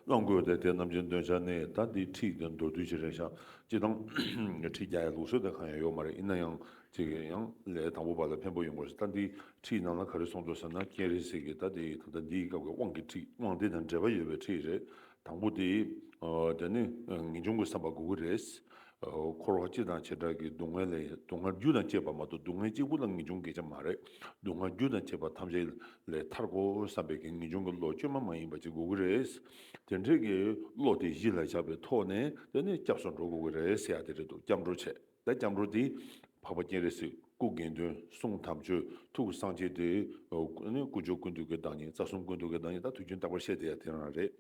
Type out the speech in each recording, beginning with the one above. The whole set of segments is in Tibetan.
བླངས་དགོས་ཏེ་དེ་རྣམས་ཀྱི་འདོན་ཆ་ནི་ད་འདི་ཁྲིད་དེ་མདོར་བསྡུས་ཀྱི་རེ་བཞག་གཅིག་དང། ཁྲིད་བརྒྱ་ཡི་ལུགས་སྲོལ་དེ་གང་ཡང་ཡོད་མ་རེད་ཡིན་ན་ཡང་གཅིག་གི་ཡང་ལས་དང་པོ་བ་ལ་ཕན་པོ་ཡོང་དགོས་ད་འདི་ཁྲིད་ནང་ལ་ག་རེ་གསུངས་འདུག་ཟེར་ན་རྐྱེན་རེ་ཟིག་གིས་ད་འདི་ད་འདི་སྐབས་ཀྱི་དབང་གི་ཁྲིད་དབང་དེ་དང་འབྲེལ་བ་ཡོད་པའི་ཁྲིད་རེད་དང་པོ་དེ་དེ་ནི་ངེས་འབྱུང་གི་བསམ་པ་དགོས་ཀྱི་རེད། འཁོར་བ་སྤྱི་དང་བྱེ་བྲག་གི་སྡུག་བསྔལ་ལས་སྡུག་བསྔལ་རྒྱུ་དང་བཅས་པ་མ་གཏོགས་སྡུག་བསྔལ་གཅིག་པུ་ལ་ངེས་འབྱུང་གི་ཆ་མ་རེད། སྡུག་བསྔལ་རྒྱུ་དང་བཅས་པ་ཐམས་ཅད་ལས་ཐར་གོ་བསམ་པའི་ངེས་འབྱུང་གི་བློ་བཅོས་མ་མ་ཡིན་པ་ཅིག་དགོས་ཀྱི་རེད། དེ་འདྲའི་གི་བློ་དེ་གཞི་ལ་བཞག་པའི་ཐོག་ནས་དེ་ནས་སྐྱབས་སུ་འགྲོ་དགོས་ཀྱི་རེད་ཟེར་ཡ་དེ་རེད་འདུག་སྐྱབས་འགྲོ་བྱས་ད་སྐྱབས་འགྲོ་དེ་འཕགས་པ་སྤྱན་རས་གཟིགས་སྐུ་དགེ་འདུན་གསུང་དམ་ཆོས་ཐུགས་ཀྱི་གསང་ཆེན་དེ། ཀུན་སྦྱོར་ཀུན་འདུས་ཀྱི་བདག་ཉིད་རྩ་གསུམ་ཀུན་འདུས་ཀྱི་བདག་ཉིད་ད་དུས་རྒྱུན་རྟག་པར་བཤད་དེ་ཡ་དེ་རང་རེད།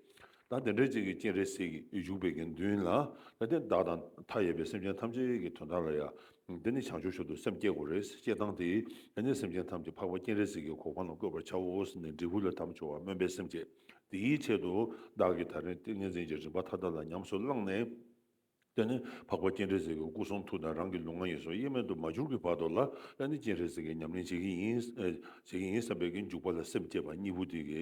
ད་དེ་འདྲ་ཅིག་གི་སྤྱན་རས་གཟིགས་ཀྱི་བཞུགས་པའི་དགེ་འདུན་ལ། ད་དེ་བདག་དང་མཐའ་ཡས་པའི་སེམས་ཅན་ཐམས་ཅད་ཀྱི་དོན་དག་ལ་ཡང། འདི་ནི་བྱང་ཆུབ་ཤོག་ཏུ་སེམས་བསྐྱེད་དགོས་རེད་ཅེས་བཏང་སྟེ། ད་ནི་སེམས་ཅན་ཐམས་ཀྱི་འཕགས་པ་སྤྱན་རས་གཟིགས་ཀྱི་གོ་འཕང་ལ་བཀོད་པར་བྱའོ་ཟེར་ནས་འབྲས་བུ་ལ་དམ་འཆོ་བར་སྨོན་པའི་སེམས་བསྐྱེད། དེའི་ཆེད་དུ་བདག་གིས་ད་རིང་ཏིང་ངེ་འཛིན་གྱི་རིམ་པ་མཐའ་དག་ལ་ཉམས་སུ་བླངས་ནས། ཀླད་ནི་འཕགས་པ་སྤྱན་རས་གཟིགས་ཀྱི་སྐུ་གསུང་ཐུགས་དང་རང་གི་ལུས་ངག་ཡིད་གསུམ་དབྱེར་མེད་དུ་མ་གྱུར་གྱི་བར་དོ་ལ་ཀླད་ནི་སྤྱན་རས་གཟིགས་ཀྱི་ཉམས་ལེན་བྱེད་ཀྱི་ཡིན། བྱེད་ཀྱི་ཡིན་བསམ་པའི་གི་འཇུག་པ་ལ་སེམས་བསྐྱེད་པ་གཉིས་པོ་དེ་གི་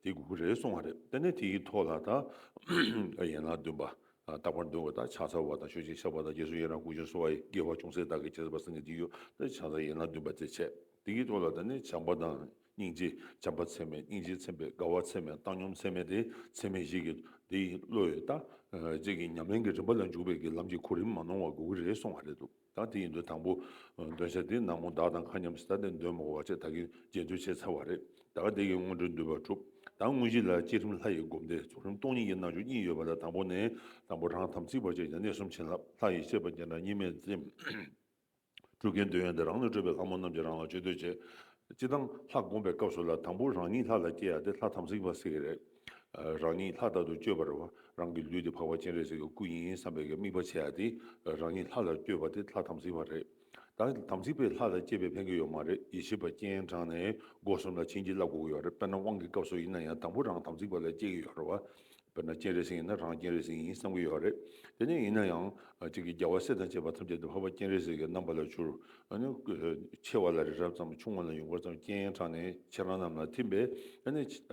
དེ་དགོས་ཀྱི་རེད་གསུང་བ་རེད་ཀླད་ནི་དེ་ཡི་ཐོག་ལ་དང། ཡན་ལག་བདུན་པ། རྟག་པར་འདོད་དགོས་དང་ཕྱག་འཚལ་བ་དང་ཞོ་ཕྱིར་ཕྱག་པ་དང་རྗེས་སུ་ཡི་རང་ཀུན་སྤྱོད་གསོལ་བ་ཡི་དགེ་བ་ཅུང་ཟད་བདག་གིས་བྱས་ཟབ་པ་སེམས་ཀྱི་འདི་ཡོད་ཀླད་ཕྱག་འཚལ་ཡན་ལག་བདུན་པ་རྩེ་ཕྱེད་དེ་གི་ཐོག་ལ་ད་ནི་བྱམས་པ་དང། སྙིང་རྗེ་བྱམས་པ་ཚད་མེད་སྙིང་རྗེ་ཚད་མེད་དགའ་བ་ཚད་མེད་བཏང་སྙོམས་ཚད་མེད་དེ་ཚད་མེད་ཞིག་གིས་དེ་ཡི་བློ་ཡིས་ལྟ། ཅད་ཀྱི་ཉམས་ལེན་གྱི་རིམ་པ་ལ་འཇུག་པའི་གི་ལམ་གྱི་གོ་རིམ་མ་ནོར་བ་དགོས་ཀྱི་རེད་གསུང་བ་རེད་འདུག་ད་དེ་ཡིན་དུས་དང་པོ། འདོན་ཆ་དེ་ནག་མོ་བདག་དང་མཁའ་མཉམ་སྲིད་ད་དེ་འདོན་མོ་བ་བཅས་ད་གིན་རྗེས་མཐུད་བྱས་ཚར་བ་རེད་ད་ག་དེ་གི་སྔོན་འགྲོའི་འདུལ་བ་གྲུབ་ད་དངོས་གཞི་ལ་བསྐྱེད་རིམ་ལྷ་ཡི་སྒོམ་བཟླས་རྫོགས་རིམ་སྟོང་ཉིད་ཀྱི་རྣལ་འབྱོར་གཉིས་ཡོད་པ་ལ་དང་པོ་ནས་དང་པོ་རང་དམ་ཚིག་པ་བཅས་ཀྱི་གནས་གསུམ་བྱིན་རླབས་ལྷ་ཡི་ཤེས་པ་རྒྱན་དྲངས་གཉིས་མེད་བསྟིམ། སྤྲུལ་དགའི་འདོད་ཡོན་དེ་རང་ལས་སྤྲོས་པའི་ལྷ་མོ་རྣམས་ཀྱིས་རང་ལ་བཅོལ་འདོད་བྱེད། སྤྱིར་བཏང་ལྷ་བསྒོམ་པའི་སྐབས་སུ་ལ་དང་པོ་རང་ཉིད་ལྷ་ལ་སྐྱེ་ཡ་དེ་ལྷ་དམ་སྲི་འབའ་སྲི་གི་རེད། རང་ཉིད་ལྷ་ལྟ་དུ་བཅོས་པར་རང་གི་ལུས་དེ་འཕགས་པ་སྤྱན་རས་གཟིགས་ཀྱི་སྐུ་ཡིན་བསམ་པའི་དམིགས་པ་བྱེད་ཡ་དེ་རང་ཉིད་ལྷ་ལ་བསྐྱོད་པ་དེ་ལྷ་དམ་སྲི་བ་རེད། ད་དམ་སྲི་པས་ལྷ་ལ་སྐྱེ་བའི་ཕན་གི་ཡོད་མ་རེད་ཡེ་ཤེས་པ་སྤྱན་དྲངས་ནས་སྒོ་གསུམ་ལ་བྱིན་གྱིས་བརླབས་དགོས་ཀྱི་ཡོད་རེད་དཔེར་ན་དབང་གི་སྐབས་སུ་ཡིན་ན་ཡང་དང་པོ་རང་དམ་སྲི་བ་ལ་སྐྱེ་གི་ཡོད་རེད་བ། དཔེར་ན་སྤྱན་རས་གཟིགས་ཡིན་ན་རང་སྤྱན་རས་གཟིགས་ཡིན་བསམ་གྱི་ཡོད་རེད། དེ་ནས་ཡིན་ན་ཡང། གཅིག་གིས་རྒྱལ་བ་སྲས་དང་བཅས་པ་ཐམས་ཅད་དུ་འཕགས་པ་སྤྱན་རས་གཟིགས་ཀྱི་རྣམ་པ་ལ་གྱུར། ཆེ་བ་ལ་རི་རབ་ཙམ་ཆུང་བ་ལ་ཡུངས་འབར་ཙམ་སྤྱན་ཡན་གྲགས་ནས་ཁྱེད་རང་རྣམས་ལ་ཐིམ་པས།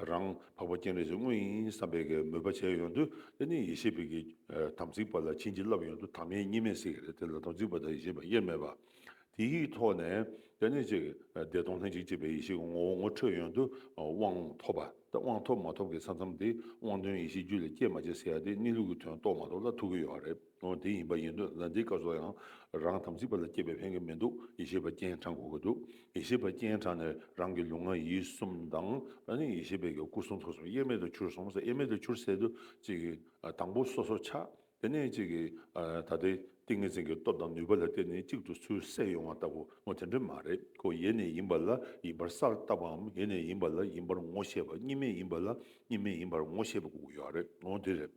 རང་འཕགས་པ་སྤྱན་རས་གཟིགས་དངོས་ཡིན་བསམ་པའི་གེགས་མོས་པ་བྱས་ཡོང་དུས་དེ་ནི་ཡེ་ཤེས་པའི་གེགས། དམ་ཚིག་པ་ལ་བྱིན་གྱིས་བརླབས་ཡོང་དུས་དམ་ཡེ་གཉིས་མེད་སྲིད་ཀྱི་རེད་དེ་ལ་དམ་ཚིག་པ་དང་ཡེ་ཤེས་པ་དབྱེར་མེད་པ། དེའི་ཐོག་ནས་དེ་ནི་གཅིག་བདེ་སྟོང་ལྷན་ཅིག་སྐྱེས་པའི་ཡེ་ཤེས་ཀྱི་ངོ་བོ་ངོ་འཕྲོད་ཡོན་དུ་དབང་ཐོབ་པ་དང་དབང་ཐོབ་མ་ཐོབ་ཀྱི་ས་མཚམས་དེ་དབང་དོན་ཡེ་ཤེས་རྒྱུད་ལ་སྐྱེས་མ་སྐྱེས་ཟེར་ཡ་དེ་གནས་ལུགས་ཀྱི་དོན་རྟོགས་མ་རྟོགས་ལ་ཐུག་གི་ཡོད་རེད་འོན་དེ་ཡིན་པ་ཡིན་དུས་ལ་འདིའི་སྐབས་སུ་ཡང་རང་དམ་ཚིག་པ་ལ་སྐྱེས་པའི་ཕན་གྱི་མི་འདུག་ཡེ་ཤེས་པ་སྤྱན་དྲངས་དགོས་ཀྱི་འདུག་ཡེ་ཤེས་པ་སྤྱན་དྲངས་ནས་རང་གི་ལུས་ངག་ཡིད་གསུམ་དང་ནི་ཡེ་ཤེས་པའི་གྱི་སྐུ་གསུང་ཐུགས་གསུམ་དབྱེར་མེད་དུ་གྱུར་སོང་ཟེར་དབྱེར་མེད་དུ་གྱུར་ཟེར་དུས་གཅིག་དང་པོ་སོ་སོར་ཆགས། དེ་ནས་གཅིག་གིས་ད་ལྟའི་ཏིང་ངེ་འཛིན་གྱི་སྟོབས་དང་ནུས་པ་ལ་བརྟེན་ནས་གཅིག་ཏུ་ཚུར་བསྲེས་ཡོང་བ་ལྟ་བུ་ངོ་དེ་འདྲ་མ་རེད་ཁོ་ཡེ་ནས་ཡིན་པ་ལ་ཡིན་པར་སར་བཏགས་པའམ་ཡེ་ནས་ཡིན་པ་ལ་ཡིན་པར་ངོ་ཤེས་པ་གཉིས་མེད་ཡིན་པ་ལ་གཉིས་མེད་ཡིན་པར་ངོ་ཤེས་པ་དགུ་ཡོད་རེད་ངོ་དེ་རེད།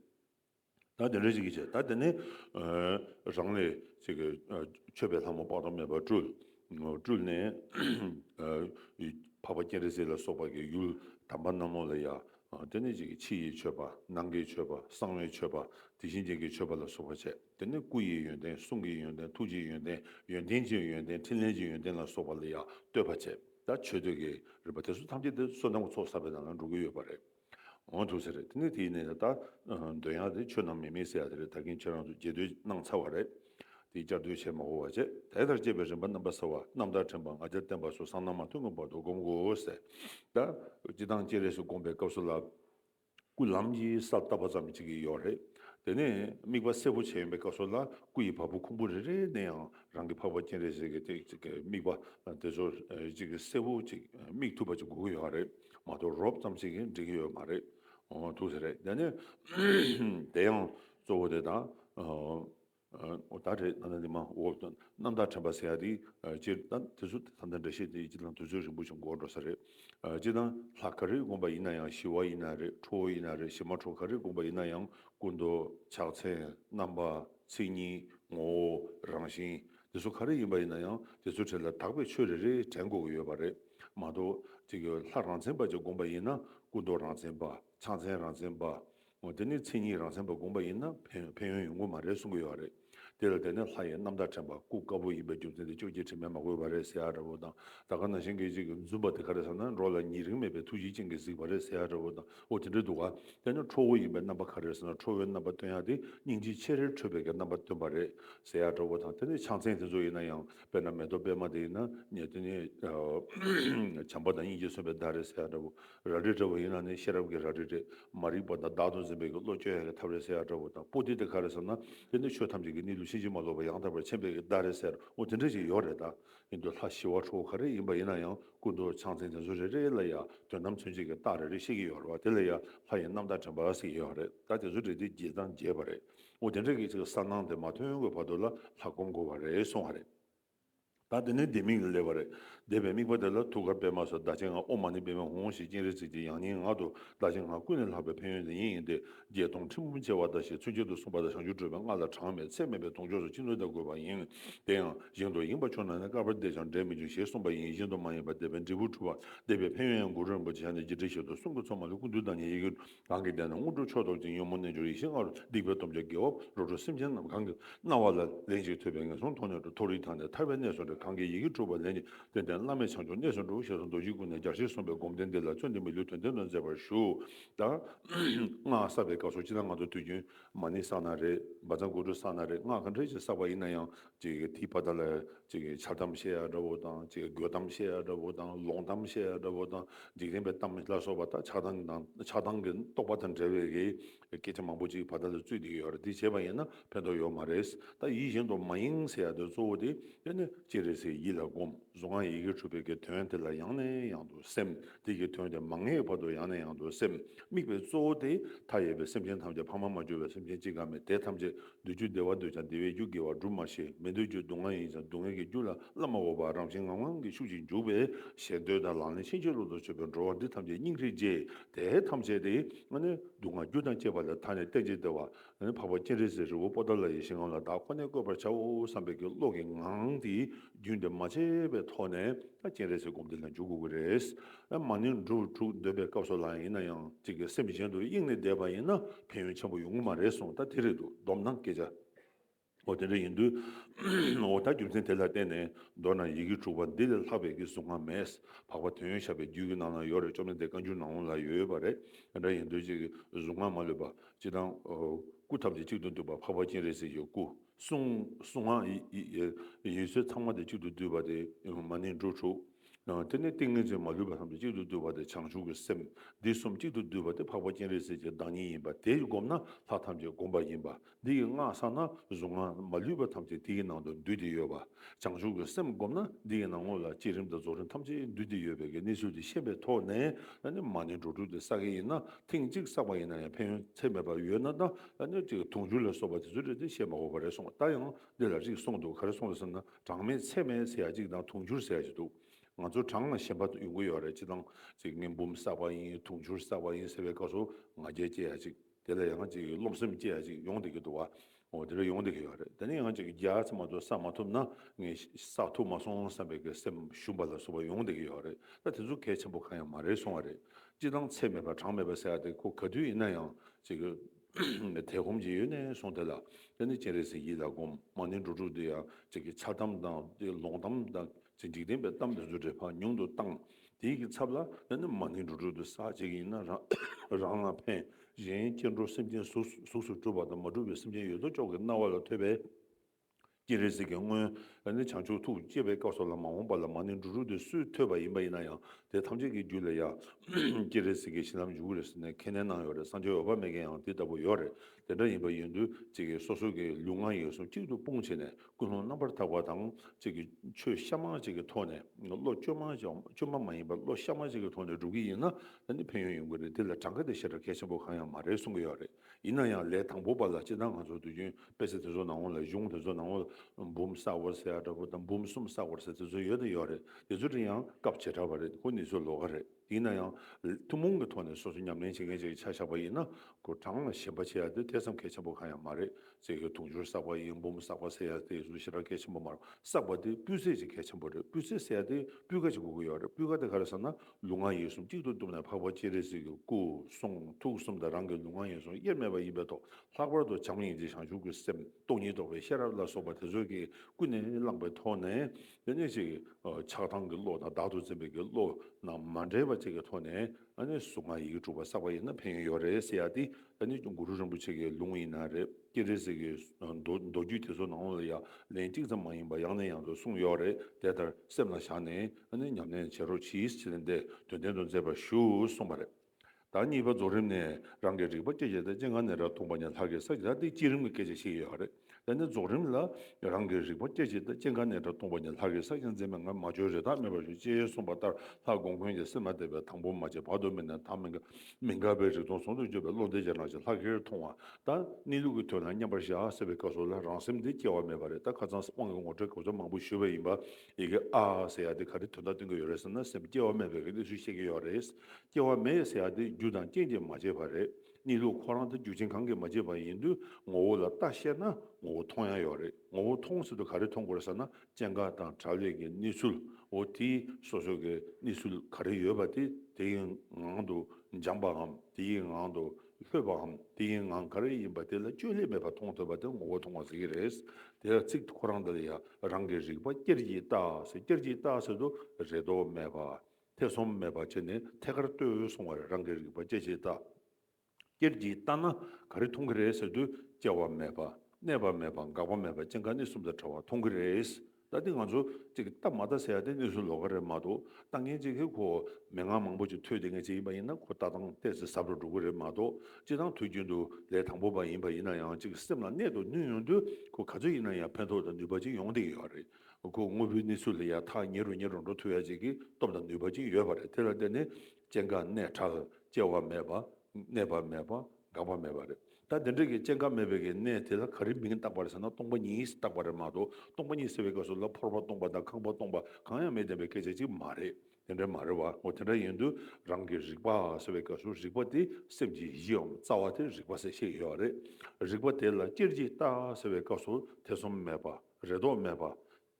ད་དེ་འདྲ་ཞིག་གིས་བྱས་ད་དེ་ནས་རང་ལས་ཅིག་གིས་མཆོད་པའི་ལྷ་མོ་དཔག་ཏུ་མེད་པ་སྤྲུལ། སྤྲུལ་ནས་འཕགས་པ་སྤྱན་རས་གཟིགས་ལ་སོགས་པ་གྱི་ཡུལ་དམ་པ་རྣམས་མོ་ལ་ཡང་དེ་ནས་ཅིག་ཕྱི་ཡི་མཆོད་པ་ནང་གི་མཆོད་པ་གསང་བའི་མཆོད་པ་དེ་བཞིན་རྒྱས་ཀྱི་མཆོད་པ་ལ་སོགས་པ་བྱས་དེ་ནས་སྐུ་ཡི་ཡོན་ཏན་གསུང་གི་ཡོན་ཏན་ཐུགས་ཀྱི་ཡོན་ཏན་ཡོན་ཏན་གྱི་ཡོན་ཏན་ཕྲིན་ལས་ཀྱི་ཡོན་ཏན་ལ་སོགས་པ་ལ་ཡང་བསྟོད་པ་བྱས་ད་མཆོད་བསྟོད་ཀྱི་རིམ་པ་དེ་ཚོ་ཐམས་ཅད་དེ་བསོད་ནམས་ཀྱི་ཚོགས་བསགས་པའི་ནང་ན་འགྲོ་གི་ཡོད་པ་རེད་འོང་ཐུག་ས་རེད་དེ་ནས་དེ་ནས་ད་ལྟ་འདོད་ཡག་དེ་ཆོས་རྣམས་མི་དམིགས་ས་ཡག་དེ་རེད་ད་གིན་ཁྱེད་རང་ཚོ་རྗེས་ཟློས་གནང་ཚར་བ་རེད། དེ་བསྐྱར་ཟློས་བྱས་མ་གོ་བ་བྱས་དེ་ལྟར་སྤྱད་པའི་རིམ་པ་རྣམ་པ་གསལ་བ་རྣམ་དག་དྲན་པ་ང་རྒྱལ་བརྟན་པ་སོགས་གསང་སྣང་མ་ཐོན་གོམས་པ་དོ་སྒོམ་དགོས་གསལ། ད་སྤྱི་དང་སྤྱན་རས་སུ་བསྒོམ་པའི་སྐབས་སུ་ལ། སྐུ་ལམ་གྱི་ས་བཏབ་པ་ཙམ་གཅིག་གིས་ཡོག་རེད། དེ་ནས་དམིགས་པ་གསལ་པོ་བྱས་ཡོན་པའི་སྐབས་སུ་ལ་སྐུ་ཡི་བ་སྤུ་ཁུང་བུ་རེ་རེ་ནས་ཡང་རང་གི་འཕགས་པ་སྤྱན་རས་གཟིགས་ཀྱི་དམིགས་པ་དེ་ཚོ་གཅིག་གིས་གསལ་པོ་གཅིག་དམིགས་ཐུབ་པ་ཅིག་དགོས་ཀྱི་ཡོག་རེད་མ་གཏོགས་རོབ་ཙམ་ཞིག་གིས་འགྲིག་གི་ཡོད་མ་རེད་འདུག་ཟེར་རེད་དེ་ནས་དེ་ཡང། གཙོ་བོ་དེ་དང། ཨོ་ད་རེད་ད་ནི་དེ་མ་འོ་ད་རྣམ་དག་དྲན་པ་ཟེར་ཡ་དེ་སྤྱིར་ད་དེ་ཚོ་དེ་ད་འདྲ་བྱས་དེ་སྤྱིར་ད་དུས་ཚོད་རིང་པོ་ཞིག་འགོར་འགྲོ་ས་རེད། སྤྱིར་ད་ལྷ་ག་རེ་བསྒོམ་པ་ཡིན་ན་ཡང་ཞི་བ་ཡིན་ན་རེད་ཁྲོ་བོ་ཡིན་ན་རེད་ཞེ་མ་ཁྲོ་ག་རེ་བསྒོམ་པ་ཡིན་ན་ཡང་སྐུ་མདོག་ཕྱག་མཚན་རྣམ་པ་མཚན་ཉིད་ངོ་བོ་རང་བཞིན་དེ་ཚོ་ག་རེ་ཡིན་པ་ཡིན་ན་ཡང་དེ་ཚོའི་གྲས་ལ་དག་པའི་ཆོས་རེ་རེ་དྲན་དགོས་ཀྱི་ཡོད་པ་རེད་མ་གཏོགས། ལྷ་རང་མཚན་པ་ཅིག་བསྒོམ་པ་ཡིན་ན་སྐུ་མདོག་རང་མཚན་པ་ཕྱག་མཚན་རང་མཚན་པ། འོ་དེ་ནི་མཚན་ཉིད་རང་མཚན་པར་དགོངས་པ་ཡིན་ན་ཕན་ཡོན་ཡོང་གི་མ་རེད་གསུང་གི་ཡོད་རེད། དེ་ལ་དེ་ནི་ལྷ་ཡི་རྣམ་དག་དྲན་པ་ཀུན་དགའ་བོ་ཡིན་པའི་རྒྱུ་མཚན་དེ་ཅོག་ཅེ་དྲི་མས་མ་གོས་པ་རེད་ཟེར་ཡ་རེད་བོ་དང་ད་ག་ན་གཞན་སྐད་ཅིག་གིས་མཛུམ་པ་དེ་ག་རེད་ཟེར་ན་འགྲོ་ལ་ཉེ་རིང་མེད་པའི་ཐུགས་རྗེའི་སྤྱན་གྱིས་གཟིགས་པ་རེད་ཟེར་ཡ་རེད་བོ་དང་འོ་དེ་འདྲ་འདུག་ག་དེ་ནི་ཁྲོ་བོ་ཡིན་པའི་རྣམ་པ་ག་རེད་ཟེར་ན་ཁྲོ་བོའི་རྣམ་པ་སྟོན་ཡ་དེ་སྙིང་རྗེ་ཆེ་རེར་ཁྲོས་པའི་གའི་རྣམ་པ་སྟོན་པ་རེད་ཟེར་ཡ་རེད་བོ་དང་དེ་ནི་ཕྱག་མཚན་དེ་ཚོ་ཡིན་ན་ཡང་དཔེར་ན་མེ་ཏོག་པད་མ་དེ་ཡིན་ན་དེ་ནི་བྱམས་པ་དང་སྙིང་རྗེ་གསོན་པའི་བརྡ་རེད་ཟེར་ཡ་རེད་བོ་ར་རི་རེད་བོ་ཡིན་ན་ནི་ཤེས་རབ་ཀྱི་ར་རི་རེད། མ་རིག་པ་དང་བདག་ཏུ་འཛིན་པའི་ཀྱི་བློ་སྐྱོན་ཡང་གི་ཐབས་རེ་ཟེར་ཡང་འདྲ་བོ་དང་པོ་འདི་དེ་ག་རེད་བསམ་ན་འདི་ནི་ཆོས་ཐམས་ཅད་ཀྱི་སྣེ་ལུས་ཕྱིན་ཅི་མ་ལོག་པའི་ཡང་དག་པར་མཁྱེན་པའི་ཀྱི་བདག་རེ་ཟེར་འོ་དེ་འདྲ་ཞིག་ཡོད་རེད་ད་ཡིན་དུ་ལྷ་ཞི་བ་ཁྲོ་བོ་ག་རེ་ཡིན་པ་ཡིན་ན་ཡང་སྐུ་མདོག་ཕྱག་མཚན་དེ་ཚོ་རེ་རེ་ལ་ཡང་དོན་དམ་མཚོན་བྱེད་ཀྱི་རྟགས་རེ་རེ་ཤེས་ཀྱི་ཡོད་རེད་བ་དེ་ལ་ཡང་ལྷ་ཡི་རྣམ་རྟགས་དྲན་པ་ཞིག་ཡོད་རེད་ད་དེ་ཚོ་རེ་དེ་རྒྱས་དང་རྒྱས་པ་རེད་འོ་དེ་འདྲ་ཀྱི་ཅིག་གསར་སྣང་དེ་མ་ཐོན་གྱི་བར་དུ་ལ་ལྷ་སྒོམ་དགོས་བ་རེད་གསུང་བ་རེད། ད་དེ་ནས་ལྡེ་མིག་ལས་པ་རེད། ལྡེ་བའི་དམིགས་པ་དེ་ལ་ཐུགས་ཁར་པད་མ་སོགས་བདག་ཆེན་ངག་དབུ་མ་ནི་པད་མའི་ཧོང་ཞེས་སྤྱན་རས་གཟིགས་ཀྱི་ཡང་སྙིང་ངག་ཏུ་བདག་ཆེན་ངག་ཀུན་ནས་ལྷག་པའི་ཕན་ཡོན་དེ་ཉིད་ཡིན་ཏེ་བརྒྱད་སྟོང་ཁྲི་འབུམ་བྱེ་བ་དང་ཞེས་ཚུན་ཆད་དུ་གསུངས་པ་ལྟར་བྱང་ཆུབ་སྤྲུལ་པའི་སྔགས་ལ་གྲངས་མེད་ཚད་མེད་པའི་དུང་ཆོས་སུ་གཅིག་མཚུངས་བལྟ་དགོས་པ་ཡིན། དེ་ཡང་བཞིན་དུ་ཡེངས་པ་ཆུང་ན་ནི་དཀར་པར་བལྟས་ཀྱང་འབྲས་མི་འབྱུང་ཞེས་གསུངས་པ་ཡིན་བཞིན་དུ་མ་ཡེངས་པར་བལྟས་པས་འབྲས་བུ་འཁྲུལ་བ་བལྟས་པའི་ཕན་ཡོན་ཡང་གུ་རུ་རིན་པོ་ཆེ་ནས་རྗེ་ཁྲི་བཞེད་དུ་གསུང་གི་ཚོགས་མ་ལུས་ཀུན་འདུས་དང་ཉེ་ཡི་གེ། གང་གིས་བཟླས་ན་དངོས་གྲུབ་མཆོག་ཐོབ་ཅིང་ཉོན་མོངས་རྣལ་འབྱོར་ཡེ་ཤེས་ལྔ་རུ་སྡིག་པའི་སྟོབས་ཆེན་དགེ་བ་རོ་བྲོ་སེམས་ཅན་རྣམས་གང་གི་སྣང་བ་ལ་ལན་ཅིག་ཐོས་པས་ངན་སོང་མཐོང་ནས་འགྲོ་ཐོབ་རིག་དང་ནས་ཐར་པའི་གནས་སུ་འདྲེ་གང་གིས་ཡི་གེ་དྲུག་པ་ལན་ཅིག་ཐོས་དན་བླ་མེད་བྱང་ཆུབ་གནས་སུ་འགྲོ་ཞེས་སོགས་མདོ་བཞི་ཀུན་ནས་རྒྱ་ཆེར་གསུངས་པའི་སྒོམ་བཟླས་འདི་ལ་བརྩོན་ཏེ་མི་ལུས་དོན་ལྡན་དུ་མཛད་པར་ཞུ། དང། སྔགས་བསགས་པའི་སྐབས་སུ་ཅི་ལ་སྔགས་འདོན་དུས་རྒྱུན་མ་ནི་བསགས་ན་རེད་བ་ཚང་དགོད་བྲོ་བསགས་ན་རེད་སྔགས་གང་འཕྲལ་གྱི་བསགས་པ་ཡིན་ན་ཡང་ཐིག་པ་དག་ལ་ཆགས་གཏམ་བཤད་ཡ་འདྲ་བོ་དང་དགོད་གཏམ་བཤད་ཡ་འདྲ་བོ་དང་ལོང་གཏམ་བཤད་ཡ་འདྲ་བོ་དང་འཇིག་རྟེན་པའི་གཏམ་ལ་སོགས་པ་དག་ཆགས་སྡང་གི་རྟོག་པ་དང་བྲལ་བའི་སྐད་ཆ་མང་པོ་ཅིག་བར་ཐག་ལ་བཙུད་དེ་ཡོད་རེད་འདི་བྱས་པ་ཡིན་ན་ཕན་ཐོགས་ཡོད་མ་རེད་ད་ཡིད་གཞན་དུ་མ་ཡེངས་ཟེར་ཡ་དེ་གཙོ་བོ་དེ་དེ་ནི་ཅི་རེད་ཟེར་ཡིད་ལ་སྒོམ་བཟོ་ང་ཡི་གེ་འཁྲུལ་པའི་གི་དོན་དེ་ལ་ཡང་ནས་ཡང་དུ་སེམས་དེ་གི་དོན་དེ་མ་ངེས་བར་དུ་ཡང་ནས་ཡང་དུ་སེམས་དམིགས་པའི་གཙོ་བོ་དེ་མཐའ་ཡས་པའི་སེམས་ཅན་ཐམས་ཅད་ཕ་མ་མ་བཅོལ་བའི་སེམས་ཅན་ཅི་འགའ་མེད་དེ་ཐམས་ཅད་འདོད་རྒྱུ་བདེ་བ་འདོད་ཀྱང་བདེ་བའི་རྒྱུ་དགེ་བ་བསྒྲུབ་མ་ཤེས་མི་འདོད་རྒྱུ་སྡུག་བསྔལ་ཡིན་ཀྱང་སྡུག་བསྔལ་གྱི་རྒྱུ་ལ་བླ་མ་འོག་པ་རང་བཞིན་ངང་ངང་གིས་ཤུགས་ཀྱིས་འཇུག་པས་ཞེ་འདོད་དང་ལག་ལེན་ཕྱིན་ཅི་ལོག་ཏུ་སྤྱོད་པས་འགྲོ་བ་འདི་ཐམས་ཅད་སྙིང་ཧྲིལ་རྗེ་དེ་ཐམས་ཅད་དེ་སྔ་ནས་སྡུག་བསྔལ་རྒྱུ་དང་བཅས་པ་ལས་ཐར་ནས་གཏན་ཅི་བདེ་བ། འཕགས་པ་སྤྱན་རས་གཟིགས་རི་བོ་པོ་ཏཱ་ལ་ཡི་ཞིང་ངང་ལ་བདག་ཁོ་ནས་བཀོད་པར་བྱའོ་བསམ་པའི་གི་བློ་གི་ངང་དེ་རྒྱུན་དེ་མ་ཆད་པའི་ཐོག་ནས་ད་སྐྱེས་རེས་སའི་སྒོམ་སྡེ་ལ་འཇུག་དགོས་ཀྱི་རེད། མ་ནིང་འགྲུབ་འགྲུབ་འདོད་པའི་སྐབས་སུ་ལ་ཡིན་ན་ཡང་གཅིག་གི་སེམས་གཞན་དུ་གཡེང་ནས་བསྡད་པ་ཡིན་ན་ཕན་ཡོན་ཆེན་པོ་ཡོང་གི་མ་རེད་གསུངས་ད་དེ་རེད་འདུག་སྡོམ་ན་སྐད་ཆ་འོ་དེ་འདྲ་ཡིན་དུས་འོ་ད་རྒྱུ་མཚན་དེ་ལ་བརྟེན་ནས་མདོར་ན་ཡི་གེ་དྲུག་པ་འདི་ལས་ལྷག་པའི་གི་གཟུགས་སྔར་མེད་འཕགས་པ་དོན་ཡོད་ཞགས་པའི་རྒྱུད་ཀྱི་ནང་ན་ཡོད་རེད་བཅོམ་ལྡན་འདས་བཀའ་འགྱུར་ནང་ལ་ཡོད་པ་རེད་དེ་འདྲ་ཡིན་དུས་གཅིག་གི་གཟུགས་སྔར་མ་ལུས་པ་གཅིག་དང། སྐུ་ཐམས་ཅད་གཅིག་ཏུ་འདུས་པ་འཕགས་པ་སྐྱེས་རེས་སའི་ཡོད་སྐུ། གསུང། ཡིན་ཟེར་ཚང་མ་དེ་གཅིག་ཏུ་འདུས་པ་དེ་མ་ནིང་འགྲོ་དྲུག། དེ་ནས་ཏིང་ངེ་འཛིན་མ་ལུས་པ་ཐམས་ཅད་གཅིག་ཏུ་འདུས་པ་དེ་བྱང་ཆུབ་ཀྱི་སེམས། འདི་གསུམ་གཅིག་ཏུ་འདུས་པ་དེ་འཕགས་པ་སྤྱན་རས་གཟིགས་ཀྱི་བདག་ཉིད་ཡིན་པ་དེ་བསྒོམས་ན་ལྷ་ཐམས་ཅད་བསྒོམས་པ་ཡིན་པ་འདི་ཡི་སྔགས་བསགས་ན་གཟུངས་སྔགས་མ་ལུས་པ་ཐམས་ཅད་དེ་ཡི་ནང་དུ་འདུས་ཏེ་ཡོད་པ། བྱང་ཆུབ་ཀྱི་སེམས་བསྒོམས་ན་འདི་ཡི་ནང་ངོ་ལ་བསྐྱེད་རིམ་དང་རྫོགས་རིམ་ཐམས་ཅད་འདུས་ཏེ་ཡོད་པའི་གནས་ཚུལ་དེ་ཤེས་པའི་ཐོག་ནས་ན་ནི་མ་ནིང་འགྲོ་དྲུག་དེ་བསགས་ཀྱི་ཡིན་ན་ཐེངས་གཅིག་བསགས་པ་ཡིན་ན་ཡང་ཕན་ཚེ་མེད་པར་ཡོད་ན་ད་ནི་ཅིག་དུང་ཕྱུར་ལ་སོགས་པ་དེ་ཚོ་རེད་དེ་བཤད་མ་གོ་བ་རེད་སོང་ལྟ་ཡང་འདི་ལ་རིགས་སོང་འདུག་ག་རེ་སོང་རེད་ཟེར་ན་གྲངས་མེད་ཚད་མེད་ཟེར་ཡ་ཅིག་དང་དུང་ཕྱུར་ཟེར་ཡ་ཅིག་འདུག་ང་ཚོ་གྲངས་ལ་ཞེན་པ་ཡོང་གི་ཡོད་རེད་ཅིག་དང་ཅིག་ངས་འབུམ་བསགས་པ་ཡིན་དུང་ཕྱུར་བསགས་པ་ཡིན་ཟེར་བའི་སྐབས་སུ་ང་རྒྱལ་སྐྱེ་ཡ་ཅིག་དེ་ལ་ཡང་ཅིག་རློམ་སེམས་སྐྱེ་ཡ་ཅིག་ཡོང་བསྡད་ཀྱི་འདུག་བ་འོ་དེ་འདྲ་ཡོང་དེ་གི་ཡོད་རེད་དེ་ནས་ཡང་ཅིག་རྒྱ་ཚ་མ་ཚོ་ས་མ་ཐུབ་ན་ངས་ས་ཐུབ་མ་སོང་བསམ་པའི་གི་སེམས་ཞུམ་པ་ལ་སོགས་པ་ཡོང་དེ་གི་ཡོད་རེད་ད་དེ་ཚོ་གལ་ཆེན་པོ་གང་ཡང་མ་རེད་སོང་བ་རེད་སྤྱི་བཏང་ཚད་མེད་པ་གྲངས་མེད་པ་ཟེར་བ་དེ་ཁོ་ག་དུས་ཡིན་ན་ཡང་ཅིག་དེ་གོམས་ཀྱི་ཡོད་ནས་སོང་དེ་ལ་དེ་ནས་སྤྱན་རས་གཟིགས་ཡིད་ལ་སྒོམ་མ་ནི་འགྲོ་དྲུག་དེ་ཡང་ཅིག་ཕྱག་གཏམ་དང་ལོང་གཏམ་དང་ཅིག་འཇིག་རྟེན་པའི་གཏམ་དེ་ཚོ་འདྲེ་ཕག་ཉུང་དུ་བཏང་དེའི་གི་ཚབ་ལ་ན་ནི་མ་ནིང་འགྲོ་དྲུག་ཏུ་ཟག་བཅས་ཀྱི་ཡིན་ན་རང་ལ་ཕན་གཞན་སྐྱེ་འགྲོ་སེམས་ཅན་གཟུགས་སུ་གྲུབ་པ་དང་མ་གྲུབ་པའི་སེམས་ཅན་ཡོད་དོ་ཅོག་གི་སྣང་བ་ལ་ཐོས་པས་ཀྱེ་རེ་ཟིག་གི་སྔོན་ལ་ནི་བྱང་ཆུབ་ཐུགས་བསྐྱེད་པའི་སྐབས་སོགས་ལ་མ་འོངས་པ་ལ་མ་ནིང་འགྲོ་དྲུག་ཏུ་སུས་ཐོས་པ་ཡིན་པ་ཡིན་ན་ཡང་དེ་ཐམས་ཅད་ཀྱི་རྒྱུད་ལ་ཡང་ཀྱེ་རེ་ཟིག་གི་གཞི་ལམ་འཇུག་རེ་ཟིག་ནས་ཁས་ལེན་གནང་ཡོད་རེད་སངས་རྒྱས་འོད་དཔག་མེད་ཀྱིས་ཡང་དེ་ལྟ་བུ་ཡོད་རེད་དེ་འདྲ་ཡིན་པ་ཡིན་དུས་ཅིག་གིས་སོ་སོ་ཀྱི་ལུས་ངག་ཡིད་གསུམ་གཅིག་ཏུ་སྤུངས་བྱས་ནས་ཀུན་སློང་རྣམ་པར་དག་པ་དང། ཆོས་ཤ་མང་ཅིག་གི་ཐོག་ནས་བློ་བཅོ་མང་བཅོ་མ་མ་ཡིན་པ་བློ་ཤ་མང་ཅིག་གི་ཐོག་ནས་སྒྲུབ་ཀྱི་ཡིན་ན་ད་ནི་ཕན་ཡོན་ཡོང་གི་རེད་དེ་ལ་གྲངས་ཀ་དེ་བཤད་གྲབས་གལ་ཆེན་པོ་གང་ཡང་མ་རེད་གསུང་གི་ཡོད་རེད་ཡིན་ན་ཡང་ལས་དང་པོ་པ་ལ་སྤྱི་བཏང་ང་ཚོ་དུས་རྒྱུན་དཔེ་ཚེ་དེ་ཚོ་ནང་བོ་ལ་གཞུང་དེ་ཚོ་ནང་བོ་ལ་འབུམ་བསགས་བར་ཟེར་ཡག་འདྲ་པོ་དང་འབུམ་གསུམ་བསགས་བར་ཟེར་དེ་ཚོ་ཡོད་དང་ཡོད་རེད་དེ་ཚོ་དྲི་ཡང་སྐབས་བྱེ་བྲག་པ་རེད་ཧོ་ནི་ཚོ་ལོ་ག་རེད། ཡིན་ན་ཡང། ཐུན་མོང་གི་ཐོག་ནས་སོ་སོ་ཉམས་ལེན་བྱེད་མཁན་ཞིག་ཆ་བཞག་པ་ཡིན་ན། སྐུ་དྲང་ལ་ཞེན་པ་བྱེད་ཡ་དེ་ཐེ་ཚོམ་གལ་ཆེན་པོ་གང་ཡང་མ་རེད། རྩེ་དགའི་དུང་ཕྱུར་བསགས་པ་ཡིན་འབུམ་བསགས་པ་ཟེར་ཡ་དེ་གཟུགས་ཞེ་དྲག་གལ་ཆེན་པོ་མ་རུང་བསགས་པ་དེ་སྤུས་ཚད་ཅིག་གལ་ཆེན་པོ་རེད་སྤུས་ཚད་ཟེར་ཡ་དེ་སྤུས་ཀ་ཅིག་དགོས་ཀྱི་ཡོད་རེད་སྤུས་ཀ་དེ་ག་རེད་ཟེར་ན། ལུས་ངག་ཡིད་གསུམ་གཅིག་ཏུ་གཏུབ་ནས་འཕགས་པ་སྤྱན་རས་གཟིགས་ཀྱི་སྐུ། གསུང། ཐུགས་གསུམ་དང་རང་གི་ལུས་ངག་ཡིད་གསུམ་དབྱེར་མེད་པ་ཡིན་པའི་ཐོག་ལྷག་པར་དུ་བྱམས་དབྱིངས་རྗེ་ཞང་ཞུང་གི་སེམས་རྟོག་ཉིད་རྟོགས་པའི་ཤེས་རབ་ལ་སོགས་པ་དེ་ཚོ་གིས་ཀུན་ནས་བླངས་པའི་ཐོག་ནས། ལས་གནས་གཅིག་གི་ཆགས་སྡང་གི་བློ་དང་བདག་ཏུ་འཛིན་པའི་གི་བློ་རྣམས་མ་འདྲེས་པ་བཅས་ཀྱི་ཐོག་ནས་གཟུངས་སྔགས་ཡི་གེ་དྲུག་པ་བསགས་པ་ཡིན་ན་ཕན་ཡོན་ཡོད་རེད་ཟེར་ཡ་དེ་ནི་གུ་རུ་རིན་པོ་ཆེ་གི་ལུང་ཡིན་ན་རེད་སྐྱེས་འབྲས་ཟེར་གི་མདོ་རྒྱུད་དེ་ཚོ་ནང་ལ་ཡ་ལན་གཅིག་ཙམ་མ་ཡིན་པ་ཡང་ནས་ཡང་དུ་གསུངས་ཡོད་རེད་དེ་ལྟར་སེམས་ལ་བཞག་ནས་ཉམས་ལེན་བྱེད་རོགས་ཕྱིས་ཕྱི་ལན་དེ་དོན་ལྡན་དུ་མཛད་པར་ཞུ་གསུངས་པ་རེད། བདག་གཉིས་པ་རྫོགས་རིམ་ནས་རང་གི་རིག་པ་སྐྱེད་བྱེད་དང་སྤྱན་སྔ་ནས་རབ་མཐོང་པ་ཉིད་ལྷག་གི་ས་བརྒྱ་སྟེ་བསྐྱེད་རིམ་གྱི་སྐད་ཆ་ཞིག་ཡོད་རེད་དེ་ནི་རྫོགས་རིམ་ལ་རང་གི་རིག་པ་སྐྱེད་བྱེད་དང་སྤྱན་སྔ་ནས་རབ་མཐོང་པ་ཉིད་ལྷག་གི་ས་བརྒྱ་འཛིན་པའི་ངག་མ་བརྗོད་རེ་དྭགས་མེད་པར་ཞུ་ཅེས་གསུངས་པ་ལྟར་ལྷ་དགོངས་ཀུན་གྱི་སེམས་མ་དད་པའི་དང་པོ་མ་བྱས་བར་དུ་མི་གནས་དང་མི་འགག་པའི་རིག་སྟོང་ཟུང་དུ་འཇུག་པའི་བློ་འདི་སྦྱར་ན་ཅི་ལྷག་གིར་མཐོང་བ་དང་གནས་ལུགས་ཀྱི་དོན་ལ་མཉམ་པར་བཞག་ཟེར་བའི་བཀའ་སྲོལ་ལ་རང་སེམས་འདི་སྐྱེ་བ་མེད་པ་རེད་ད་ཁ་ཚང་སྤང་གི་ངོ་སྤྲོད་གོ་ཆ་མང་པོ་ཞུས་པ་ཡིན་པ་ཡི་གེ་ཨ་ཟེར་ཡག་དེ་ག་རེ་དོན་དག་སྟོན་གྱི་ཡོད་རེད་ཟེར་ན་སེམས་སྐྱེ་བ་མེད་པའི་གནས་ཚུལ་བཤད་ཀྱི་ཡོད་རེད། སྐྱེ་བ་མེད་ཟེར་ཡག་དེ་རྒྱུ་དང་རྐྱེན་གྱིས་མ་བྱས་པ་རེད་གཉིད་ལུགས་ཁོ་རང་དེ་རྒྱུ་རྐྱེན་གང་གིས་མ་བྱས་པ་ཡིན་དུས་ངོ་བོ་ལ་ལྟ་བཤད་ན་ངོ་བོ་མཐོང་ཡག་ཡོད་རེད་ངོ་བོ་མཐོང་ཟེར་དུས་ག་རེ་མཐོང་དགོས་རེད་ཟེར་ན་སྤྱན་ཁ་དང་དྲག་ལས་ཀྱི་གནས་ཚུལ་འོ་དེ་སོ་སོ་གའི་གནས་ཚུལ་ག་རེ་ཡོད་པ་དེ་དེ་ཡི་ངང་དུ་སྦྱངས་པའམ་དེ་ཡི་ངང་དུ་ལྷོད་པའམ་དེ་ཡི་ངང་ག་རེ་ཡིན་པ་དེ་ལ་བཅོས་བསླད་མེད་པར་མཐོང་ཐོས་པ་དེ་ངོ་བོ་མཐོང་བ་ཟེར་གྱི་རེད། དེ་ལ་ཚིག་ཁོ་རང་འདི་ལ་ཡང་རང་གིས་རིག་པ་སྐྱེར་གྱིས་བཏགས་ཟེར་སྐྱེར་གྱིས་བཏགས་ཟེར་དུ་རེ་དོགས་མེད་པར་ཐེ་ཚོམ་མེད་པར་བྱས་ནས་ཐད་ཀར་ལྟོས་འོས་སོང་བར་རང་གིས་རིག་པ་སྐྱེ་གྱིས་བཏགས། སྐྱེར་གྱིས་བཏགས་ན་ག་རེ་མཐོང་གི་རེད་ཟེར་དུ་སྐྱེ་བ་མེད་པར་གནས་པ་མེད་པར་འགག་པ་མེད་པར་སྐྱེ་འགག་གནས་གསུམ་དང་བྲལ་བར་མཐོང་གི་རེད། ད་དེ་ང་ཚོ་ཅིག་བལྟ་མ་བལྟ་ཟེར་ཡ་དེ་གནས་ཚུལ་ལོག་ག་རེད་མ་གཏོགས་ལྟ་མཁན་ཅིག་གིས་ཁོ་མི་ངག་མང་པོ་ཅིག་ཐོས་དེ་ངས་ཅིག་ཡིན་པ་ཡིན་ན་ཁོ་ལྟ་སྟངས་བལྟས་ཚེ་གཟབ་རོ་འགྲོ་གི་རེད་མ་གཏོགས་ཅིག་དང་དུས་རྒྱུན་དུ་ལས་དང་པོ་བ་ཡིན་པ་ཡིན་ན་ཡང་ཅིག་སེམས་ལ་གནད་དུ་བསྣུན་ཡོང་དུས་ཁོ་ག་ཚོད་ཡིན་ན་ཡང་ཕན་ཐོག་དང་ནུས་པ་ཅིག་ཡོང་བསྡད་ཀྱི་ཡོད་རེད་ཁོ་དངོས་པོའི་གནས་ཚུལ་ལ་ཡང་ཐག་ཉེ་རུ་ཉེ་རུ་འགྲོ་ཐུབ་ཡ་ཅིག་གི་སྟོབས་དང་ནུས་པ་ཅིག་ཡོད་པ་རེད་དེ་ལ་བརྟེན་ནས་སྤྱན་དགའ་གནས་གྲགས་སྐྱེ་བ་མེད་པ་གནས་པ་མེད་པ། འགག་པ་མེད་པ་རེད། ད་དེ་འདྲ་གི་སྐྱེ་འགག་མེད་པའི་གི་གནས་དེ་ལ་ག་རེ་མིང་བཏགས་པ་རེད་ཟེར་ན་སྟོང་པ་ཉིད་ཞེས་བཏགས་པ་རེད་མ་གཏོགས་སྟོང་པ་ཉིད་ཟེར་བའི་སྐབས་སུ་ལ་ཕོར་པ་སྟོང་པ་དང་ཁང་པ་སྟོང་པ་གང་ཡང་མེད་བསྟན་པའི་སྐད་ཆ་ཅིག་མ་རེད། དེ་འདྲ་མ་རེད་བ་འོ་དེ་འདྲ་ཡིན་དུས་རང་གི་རིག་པ་ཟེར་བའི་སྐབས་སུ་རིག་པ་དེ་སེམས་ཀྱི་ཡིའམ་རྩ་བ་དེ་རིག་པ་ཟེར་ཤེས་ཡོད་རེད། རིག་པ་དེ་ལ་སྐྱེར་གྱིས་བཏགས་ཟེར་བའི་སྐབས་སུ་ཐེ་ཚོམ་མེད་པ་རེ་དོགས་མེད་པ།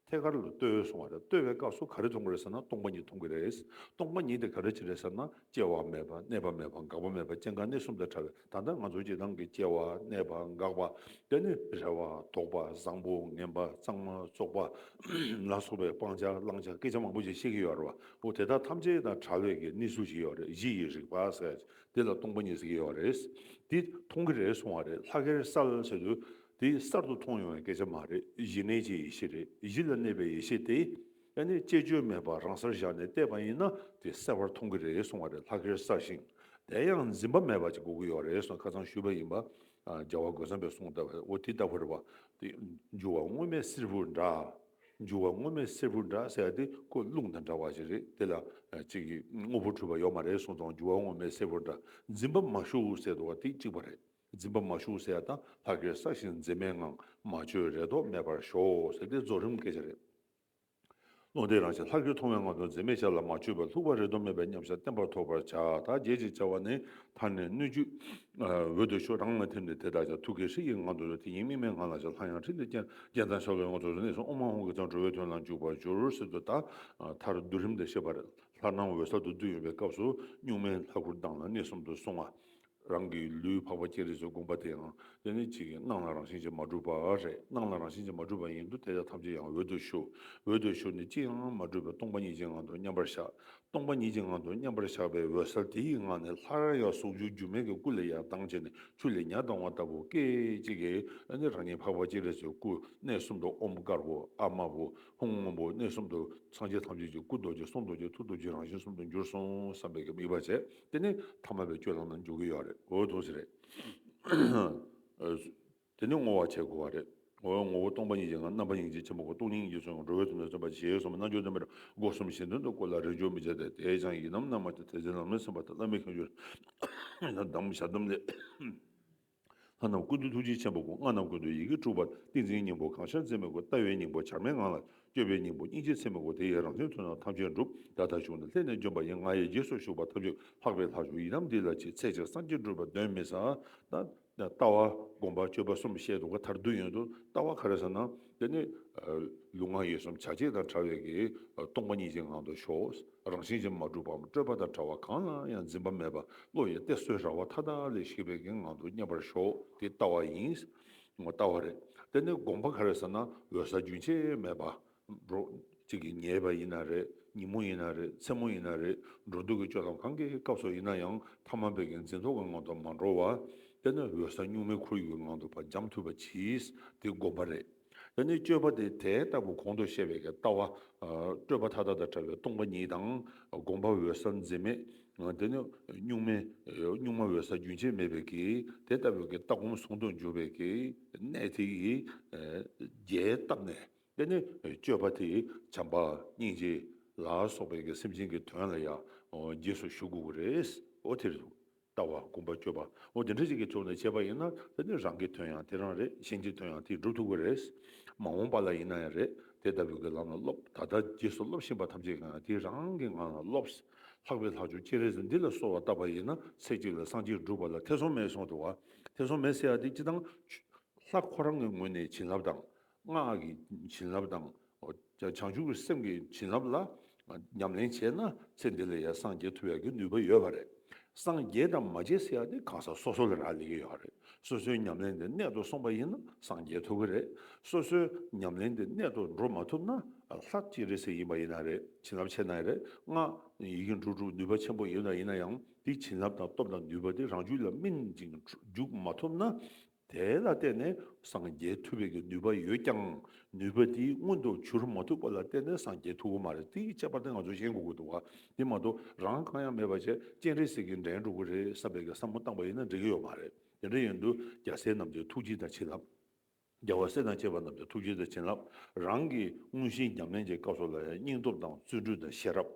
ཐད་ཀར་ལ་ལྟོས་བས་སོང་བ་རེད། ལྟོས་པའི་སྐབས་སུ་ག་རེ་མཐོང་གི་རེད་ཟེར་ན་སྟོང་པ་ཉིད་མཐོང་གི་རེད། སྟོང་པ་ཉིད་དེ་ག་རེ་ཅི་རེད་ཟེར་ན་སྐྱེ་བ་མེད་པ་གནས་པ་མེད་པ་འགག་པ་མེད་པ་སྐྱེ་འགག་གནས་གསུམ་དང་བྲལ་བའི་ད་ལྟ་ང་ཚོ་སྤྱིར་བཏང་གི་སྐྱེ་བ་གནས་པ་འགག་པ་དེ་ནི་རེ་བ་དོགས་པ་བཟང་པོ་ངན་པ་གཙང་མ་བཙོག་པ་ལ་སོགས་པའི་སྤང་བྱ་བླང་བྱ་སྐད་ཆ་མང་པོ་ཞིག་བཤད་ཀྱི་ཡོད་རེད་བ། འོ་དེ་དག་ཐམས་ཅད་དང་བྲལ་བའི་གི་གནས་ཚུལ་ཞིག་ཡོད་རེད་གཞི་ཡི་རིག་པ་ཟེར་བ་དེ་ལ་སྟོང་པ་ཉིད་ཟེར་གྱི་ཡོད་རེད། འདི་མཐོང་གི་རེད་སོང་བ་རེད་ལྷ་སྐལ་གསལ་ཟེར་དུས་དེ་གསར་དུ་མཐོང་ཡོང་བའི་སྐད་ཆ་མ་རེད་གཞི་གནས་ཀྱི་ཡེ་ཤེས་རེད་གཞི་ལ་གནས་པའི་ཡེ་ཤེས་དེ་ཡང་ནི་བཅས་བཅོས་མེད་པར་རང་སར་བཞག་ནས་བལྟས་པ་ཡིན་ན་དེ་གསལ་བར་མཐོང་གི་རེད་གསུང་བ་རེད་ལྷག་གེར་བསགས་ཤིང་དེ་ཡང་འཛིན་པ་མེད་པ་ཅིག་དགོས་ཀྱི་ཡོད་རེད་གསུང་ཁ་ཚང་ཞུས་པ་ཡིན་པ་རྒྱལ་བ་རྒོད་ཚང་པས་གསུང་ལྟར་འོ་དེ་ལྟ་བུར་བ་དེ་འགྱུར་བ་དངོས་མེད་བསེར་བུ་འདྲ་འགྱུར་བ་དངོས་མེད་བསེར་བུ་འདྲ་ཟེར་བ་དེ་ཁོ་རླུང་དང་འདྲ་བ་ཞིག་རེད་དེ་ལ་གཅིག་གིས་དངོས་པོ་འཁྲུལ་པ་ཡོད་མ་རེད་གསུང་དང་འགྱུར་བ་དངོས་མེད་བསེར་བུ་འདྲ་འཛིན་པ་མ་ཞུགས་ཟེར་འདུག་བ་དེ་གཅིག་པ་རེད། འཛིན་པ་མ་ཞུགས་ཟེར་དང་ཕ་གིར་བསགས་ཤིང་འཛིན་མེད་ངང་མ་བཅོས་རེ་དོགས་མེད་པར་ཞོག་ཟེར་འདི་རྫོགས་རིམ་སྐད་ཆ་རེད། བློ་འདས་རང་བཞིན་ལྷག་གིར་མཐོང་བའི་ངང་དུ་འཛིན་མེད་ཆ་ལ་མ་བཅོས་པར་ལྷུག་པ་རེ་དོགས་མེད་པའི་མཉམ་བཞག་བརྟན་པར་ཐོབ་པར་བྱ། དག་རྒྱས་ཅེས་བྱ་བ་ནི་མཐར་ནི་སྣོད་བཅུད། འོད་དུ་ཞུ་རང་ལ་ཐིམ་སྟེ་དེ་དག་ཀྱང་ཐུགས་ཀྱི་ཧྲིག་གེའི་ངང་དུ་དེ་ཉིད་དམིགས་མེད་ངང་ལ་ཞག་ལྷག་ཡང་ཁྲིད་འདི་རྐྱེན་རྐྱེན་ཚང་ཞག་ལོའི་སྔོ་ཚོད་གནས་སུ་ཨོ་མ་ཧོང་གི་ཚངས་གྲོལ་བའི་དོན་ལ་འཇུག་པར་འགྱུར་ཟེར་དུ་ད་མཐར་བསྡུ་རིམ་དེ་ཤེས་པར་ལྷར་སྣང་འོད་གསལ་དུ་བསྡུ་ཡོད་པའི་སྐབས་སུ་གཉུག་མའི་ལྷ་སྐུར་ལྡང་ལ་གནས་གསུམ་དུ་བསྲུང་བ། རང་གི་ལུས་འཕགས་པ་སྐྱེད་རེས་སུ་བསྒོམ་པ་དེའང་སྐྱེ་གནས་གཅིག་གིས་སྣང་ལ་རང་བཞིན་གྱིས་མ་གྲུབ་པ་རེད་སྣང་ལ་རང་བཞིན་གྱིས་མ་གྲུབ་པ་ཡིན་དུ་དེ་དག་ཐམས་ཅད་ཡང་འོད་དུ་ཞུ། འོད་དུ་ཞུ་ནི་ཅིའི་ངང་མ་གྲུབ་པའི་སྟོང་པ་ཉིད་ཀྱི་ངང་དུ་མཉམ་པར་བཞག་སྟོང་པ་ཉིད་ཀྱི་ངང་དུ་མཉམ་པར་བཞག་པའི་འོད་གསལ་དེ་ཡི་ངང་ནས་ལྷར་ཡང་ཟུང་འཇུག་འགྱུར་མེད་ཀྱི་སྐུ་ལས་ཡང་གདངས་ཆེ་ནས་ཆུ་ལས་མྱ་གདང་བ་ལྟ་བུ་སྐད་ཅིག་གིས་ནི་རང་ཉིད་འཕགས་པ་སྐྱེད་རེས་སུ་སྐུ་གནས་གསུམ་དུ་ཨོམ་དཀར་པོ་ཨ་དམར་པོ་ཧཱུྃ་སྔོན་པོ་གནས་གསུམ་དུ་སངས་རྒྱས་ཐམས་ཅད་ཀྱི་སྐུ་རྡོ་རྗེ་གསུང་རྡོ་རྗེ་ཐུགས་རྡོ་རྗེའི་རང་བཞིན་གསུམ་དུ་འགྱུར་སོང་བསམ་པའི་དམིགས་པ་བྱས། དེ་ནི་ཐ་མལ་པའི་སྤྱོད་ལམ་ནང་འཇོག་གི་ཡོད་རེད་འོད་སྟོང་ཞིག་རེད། དེ་ནི་བསྔོ་བ་བྱེད་དགོས་པ་རེད། འོད་ངོ་བོ་སྟོང་པ་ཉིད་ཀྱི་ངང་རྣམ་པ་སྙིང་རྗེ་ཆེན་པོ་སྐུ་སྟོང་སྙིང་རྗེ་ཚོགས་ཀྱི་འགྲོ་བའི་ཚུལ་ནི་སེམས་དཔའ་ཆེ་གེའི་གསུང་རྣལ་འབྱོར་བདེན་པའི་སྒོ་གསུམ་གཞན་དོན་དུ་བཀོད་ལ་རེས་འཇོག་མི་བྱེད་དེ་དེའི་ཆང་ཡིན་ནམ་རྣལ་མ་ཐེ་ཚེ་ལམ་ལས་སེམས་དཔའ་ཐ་དད་མེད་ཁེངས་ཤུགས་རེད། ཡང་དག་མི་བྱ་སྡོམ་ལས། ལྷ་རྣམས་ཀུན་ཏུ་ཐུགས་རྗེ་ཆེན་པོ་སྐུ་ལྔ་རྣམས་ཀུན་ཏུ་ཡི་གེ་དྲུག་པ་ཏིང་འཛིན་སྙིང་པོ་གང་ཤར་འཛིན་མེད་སྐུ་ལྟ་བའི་སྙིང་པོ་བྱར་མེད་ངང་ལ་སྤྱོད་པའི་སྙིང་པོ་སྙིང་རྗེ་ཚད་མེད་སྐུ་དེ་ཡི་རང་བཞིན་དུ་ན་ཐམས་ཅད་འགྲུབ་བདག་ཐབས་ཞུགས་ན་ལྷན་ནེ་འཇོམས་པ་ཡི་ང་ཡི་རྗེས་སུ་ཞུགས་པ་ཐབས་ཀྱིས་ལྷག་པའི་ལྷ་ཞུགས་ཡི་དམ་འདི་ལ་ཅིག་ཚེ་ཆེར་སངས་རྒྱས་འགྲུབ་པ་གདོན་མི་ཟ། ལྟ་བ། སྒོམ་པ་སྤྱོད་པ་གསུམ་བཤད་དུ་ག་དར་བདུན་ཡོད་དོ་ལྟ་བ་ག་རེ་ཟེར་ན་དེ་ནི། ལུས་ངག་ཡིད་གསུམ་བྱ་བྱེད་དང་བྲལ་བའི་གིས་སྟོང་པ་ཉིད་ཀྱི་ངང་དུ་ཞོག། རང་བཞིན་གྱིས་མ་གྲུབ་པའམ་སྤྲོས་པ་དང་བྲལ་བ་གང་ལ་ཡང་འཛིན་པ་མེད་པ་བློ་ཡི་གཏད་སོའི་ར་བ་མཐའ་དག་ལས་ཤེས་པའི་ངང་དུ་མཉམ་པར་ཞོག་དེ་ལྟ་བ་ཡིན། ལྟ་བ་རེད། དེ་ནི་དགོངས་པ་ག་རེ་ཟེར་ན་འོད་གསལ་རྒྱུན་ཆད་མེད་པ། འགྲོ། གཅིག་གིས་ཉལ་བ་ཡིན་ན་རེད་ཉིན་མོ་ཡིན་ན་རེད་མཚན་མོ་ཡིན་ན་རེད་འགྲོ་འདུག་གི་སྤྱོད་ལམ་གང་གི་སྐབས་སུ་ཡིན་ན་ཡང་ཐ་མ་བད་ཀན་འཛིན་རྟོག་གི་ངང་དུ་མ་འགྲོ་བ། དེ་ནི་འོད་གསལ་གཉུག་མའི་ཁོར་ཡུག་གི་ངང་དུ་བར་འགྱམ་ཐུབ་པ་གྱིས་དེ་དགོངས་པ་རེད། འདི་ནི་སྤྱོད་པ་དེ་དེ་ལྟ་བུ་གོང་དུ་བཤད་པའི་ལྟ་བ། སྤྲོས་པ་མཐའ་དག་དང་བྲལ་བའི་སྟོང་པ་ཉིད་དང། དགོངས་པ་འོད་གསལ་འཛིན་མེད། འདི་ནི་གཉུག་མའི་གཉུག་མ་འོད་གསལ་རྒྱུན་ཆད་མེད་པའི་གི་དེ་ལྟ་བུའི་གི་ལྟ་སྒོམ་ཟུང་དུ་འཇུག་པའི་གི་གནད་དེ་ཡི་རྒྱས་བཏབ་ནས། འདི་ནི་སྤྱོད་པ་དེ་བྱམས་པ་སྙིང་རྗེ་ལ་སོགས་པའི་གི་སེམས་ཅན་གྱི་དོན་ལ་ཡང་རྗེས་སུ་ཞུགས་དགོས་པ་རེད། འོ་དེར་ལྟ་བ་དགོངས་པ་བཅོས་པ་འོ་དེ་འདྲ་ཞིག་གི་ཐོག་ནས་བྱས་པ་ཡིན་ན་ད་དེ་རང་གི་དོན་ཡང་དེ་རང་རེད་གཞན་གྱི་དོན་ཡང་དེས་འགྲུབ་ཐུབ་ཀྱི་རེད། མ་འོངས་པ་ལ་ཡིན་ན་ཡང་རེད་དེ་ལྟ་བུའི་གི་ལམ་ལ་སློབ་ད་ལྟ་རྗེས་སུ་སློབ་བཞིན་པ་ཐམས་ཅད་ཀྱང་དེ་རང་གི་ངང་ལ་སློབས། ལྷག་པའི་ལྷག་ཆོག་སྤྱི་རེས་འདི་ལ་གསོལ་བ་བཏབ་པ་ཡིན་ན་ཚེ་གཅིག་ལ་སངས་རྒྱས་འགྲུབ་པ་ལ་ཐེ་ཚོམ་མེད་སོང་དུ་བ། ཐེ་ཚོམ་མེད་ཟེར་ཡ་དེ་སྤྱི་དང། ལྷ་ཁོ་རང་གི་ངོས་ནས་བྱིན་རླབས་དང། སྔགས་ཀྱི་བྱིན་རླབས་དང། བྱང་ཆུབ་ཀྱི་སེམས་ཀྱི་བྱིན་རླབས་ལ་ཉམས་ལེན་བྱས་ན་ཚེ་འདི་ལ་ཡང་སངས་རྒྱས་ཐུབ་ཡག་གི་ནུས་པ་ཡོད་པ་རེད། སངས་རྒྱས་དང་མ་རྗེས་སུ་ཡག་དེ་གང་ཟག་སོ་སོ་ལ་རག་ལས་ཀྱི་ཡོད་རེད། སོ་སོའི་ཉམས་ལེན་དེ་གནད་དུ་སོང་པ་ཡིན་ན་སངས་རྒྱས་ཐུབ་ཀྱི་རེད། སོ་སོའི་ཉམས་ལེན་དེ་གནད་དུ་འགྲོ་མ་ཐུབ་ན་ལྷ་སྤྱིན་རེ་ཟེར་ཡིན་པ་ཡིན་ན་རེད་བྱིན་རླབས་ཆེ་ན་རེད་སྔགས་ཡི་གེ་འབྲུ་དྲུག་ནུས་པ་ཆེན་པོ་ཡོད་ན་ཡིན་ན་ཡང་དེའི་བྱིན་རླབས་དང་སྟོབས་དང་ནུས་པ་དེ་རང་རྒྱུད་ལ་སྨིན་ཅིང་འཇུག་མ་ཐུབ་ན། དེ་ལ་བརྟེན་ནས་སངས་རྒྱས་ཐུབ་པའི་ནུས་པ་ཡོད་ཀྱང་ནུས་པ་དེ་མངོན་དུ་གྱུར་མ་ཐུབ་པ་ལ་བརྟེན་ནས་སངས་རྒྱས་ཐུབ་ཀྱི་མ་རེད་དེའི་ཁྱད་པར་དེ་ང་ཚོས་ཤེས་དགོས་ཀྱི་འདུག་དེ་མ་གཏོགས་རང་གང་ཡང་མེད་པ་ཆེ་སྤྱན་རས་གཟིགས་ཀྱིས་འགྲན་འགྲོ་གི་རེད་བསམ་པའི་བསམ་བློ་བཏང་པ་ཡིན་ན་འགྲིག་གི་ཡོད་མ་རེད་དེ་འདྲ་ཡིན་དུས་རྒྱལ་སྲས་རྣམས་ཀྱི་ཐུགས་རྗེ་དང་བྱིན་རླབས། རྒྱལ་བ་སྲས་དང་བཅས་པ་རྣམས་ཀྱི་ཐུགས་རྗེ་དང་བྱིན་རླབས་རང་གི་མངོན་ཞེན་རྒྱང་མེད་ཀྱི་སྐབས་སུ་ལ་ཡང་སྙིང་སྟོབས་དང་བརྩོན་འགྲུས་དང་ཤེས་རབ།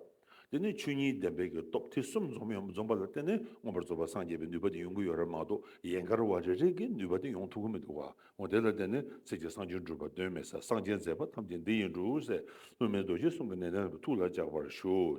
དེ་ནས་ཆོས་ཉིད་བདེན་པའི་གེགས་སྟོབས་དེ་གསུམ་འཛོམས་ཡང་མི་འཛོམས་པ་ལ་བརྟེན་ནས་མངོན་པར་རྫོགས་པར་སངས་རྒྱས་པའི་ནུས་པ་དེ་ཡོང་གི་ཡོད་རབས་མ་གཏོགས་ཡན་གར་བ་རེ་རེས་ཀྱི་ནུས་པ་དེ་ཡོང་ཐུབ་ཀྱི་མི་འདུག་བ་འོ་དེ་ལ་བརྟེན་ནས་ཚིག་གི་གསང་ཆེན་སྒྲུབ་པ་དོན་མེད་ས་གསང་ཆེན་མཛད་པ་ཐམས་ཅད་འདི་ཡིན་འགྲོ་འོས་སྲས་སློབ་མའི་རྡོ་རྗེ་གསུམ་གྱི་ནན་ཏན་དུ་ཐུགས་ལ་འཇགས་པར་ཞུ།